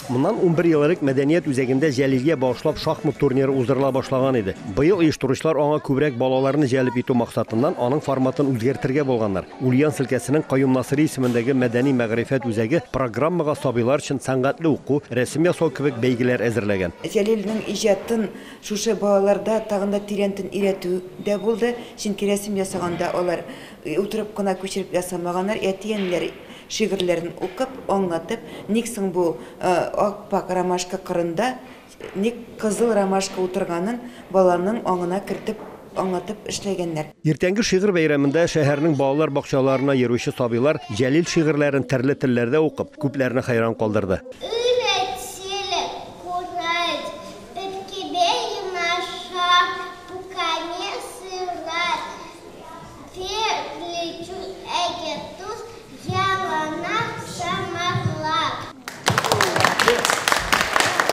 Моннан унбер ел элек мәдәният үзәгендә Җәлилгә багышлап шахмат турниры уздырыла башлаган иде. Быел оештыручылар аңа күбрәк балаларны җәлеп итү максатыннан аның форматын үзгәртергә булганнар. Ульян селкәсенең Каюм Насыйри исемендәге мәдәни-мәгърифәт үзәге программага сабыйлар өчен сәнгатьле уку, рәсем ясау кебек бәйгеләр әзерләгән. Җәлилнең иҗатын шушы балаларда тагын да тирәнтен өйрәтү дә булды, чөнки рәсем ясаганда алар Утырып кына күчереп ясамаганнар, әти-әниләр шигырьләрен укып, аңлатып, ник соң бу ап-ак ромашка кырында ник кызыл ромашка утырганын баланың аңына кертеп, аңлатып эшләгәннәр. Иртәнге шигырь бәйрәмендә шәһәрнең балалар бакчаларына йөрүче сабыйлар Җәлил шигырьләрен терле телләрдә укып, күпләрне хәйран калдырды.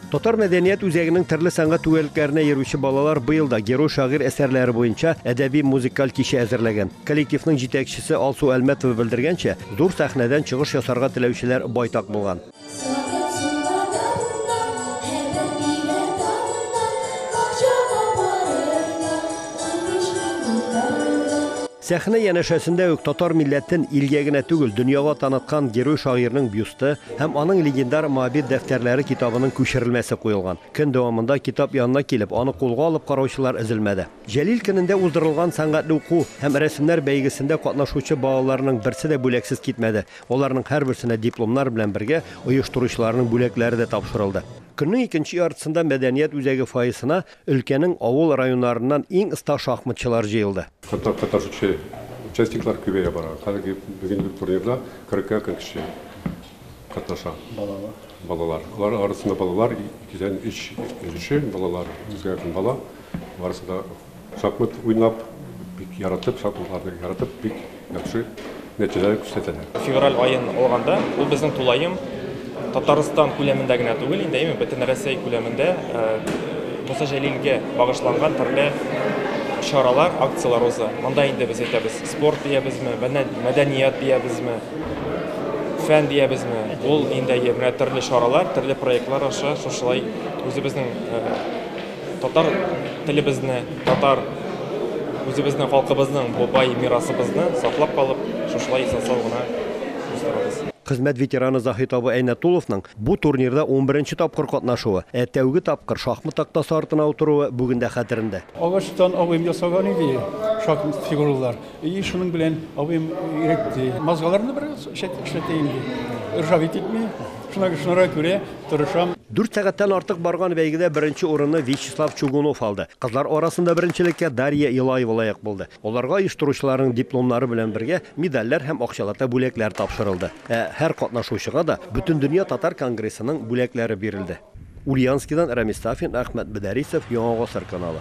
Татар мәдәният үзәгенең төрле сәнгать түгәрәкләренә йөрүче балалар быел да герой шагыйрь әсәрләре буенча әдәби-музыкаль кичә әзерләгән. Коллективның җитәкчесе Алсу Әлмәтова белдергәнчә, зур сәхнәдән чыгыш ясарга теләүчеләр байтак булган. Сәхнә янәшәсендә үк татар милләтен илгә генә түгел, дөньяга таныткан герой шагыйрьнең бюсты һәм аның легендар Моабит дәфтәрләре китабының күчерелмәсе куелган. Көн дәвамында китап янына килеп, аны кулга алып караучылар өзелмәде. Җәлил көнендә уздырылган сәнгатьле уку һәм рәсемнәр бәйгесендә катнашучы балаларның берсе дә бүләксез китмәде. Аларның һәрберсенә дипломнар белән бергә оештыручыларның бүләкләре дә тапшырылды. Көннең икенче яртысында мәдәният үзәге фойесына өлкәнең авыл районнарыннан иң оста шахматчылар җыелды. Хәтта катнашучы участниклар күбәя бара. Хәзерге бүген турнирда кырыкка кырык кеше катнаша. Балалар. Балалар. Алар арасында балалар, икедән өч өлеше балалар, үзгәргән бала. Барысы да Шахмат уйнап бик яратып, шахматларны яратып бик яхшы нәтиҗәләр күрсәтәләр. Февраль аен алганда, ул безнең тулаем Татарстан күләмендә генә түгел инде, әйме, бөтен Россия күләмендә Муса Җәлилгә багышланган төрле чаралар, акцияләр уза. Монда инде без әйтәбез, спорт диябезме, мәдәният диябезме, фән диябезме, ул инде менә төрле чаралар, төрле проектлар аша шушылай үзебезнең Татар телебезне, татар үзебезнең халкыбызның бу бай мирасыбызны саклап калып, шушылай исән-сау гына уздырабыз. Хезмәт ветераны Заһит абый Әйнәтулловның бу турнирда унберенче тапкыр катнашуы, ә тәүге тапкыр шахмат тактасы артына утыруы бүген дә хәтерендә. Агачтан абыем ясаган иде шахмат фигуралар. И шуның белән абыем иретте. Мазгаларны бер чәтек эшләтәйем дип. Ржавить итми. Шуңа шуңа күрә тырышам. Дүрт сәгатьтән артык барган бәйгедә беренче урынны Вячеслав Чугунов алды. Кызлар арасында беренчелеккә Дарья Илаева лаек булды. Аларга оештыручыларның дипломнары белән бергә медальләр һәм акчалата бүләкләр тапшырылды. Ә һәр катнашучыга да Бөтендөнья татар конгрессының бүләкләре бирелде. Ульяновскидан Рәмис Сафин, Әхмәт Бедәрисов, Яңа гасыр каналы.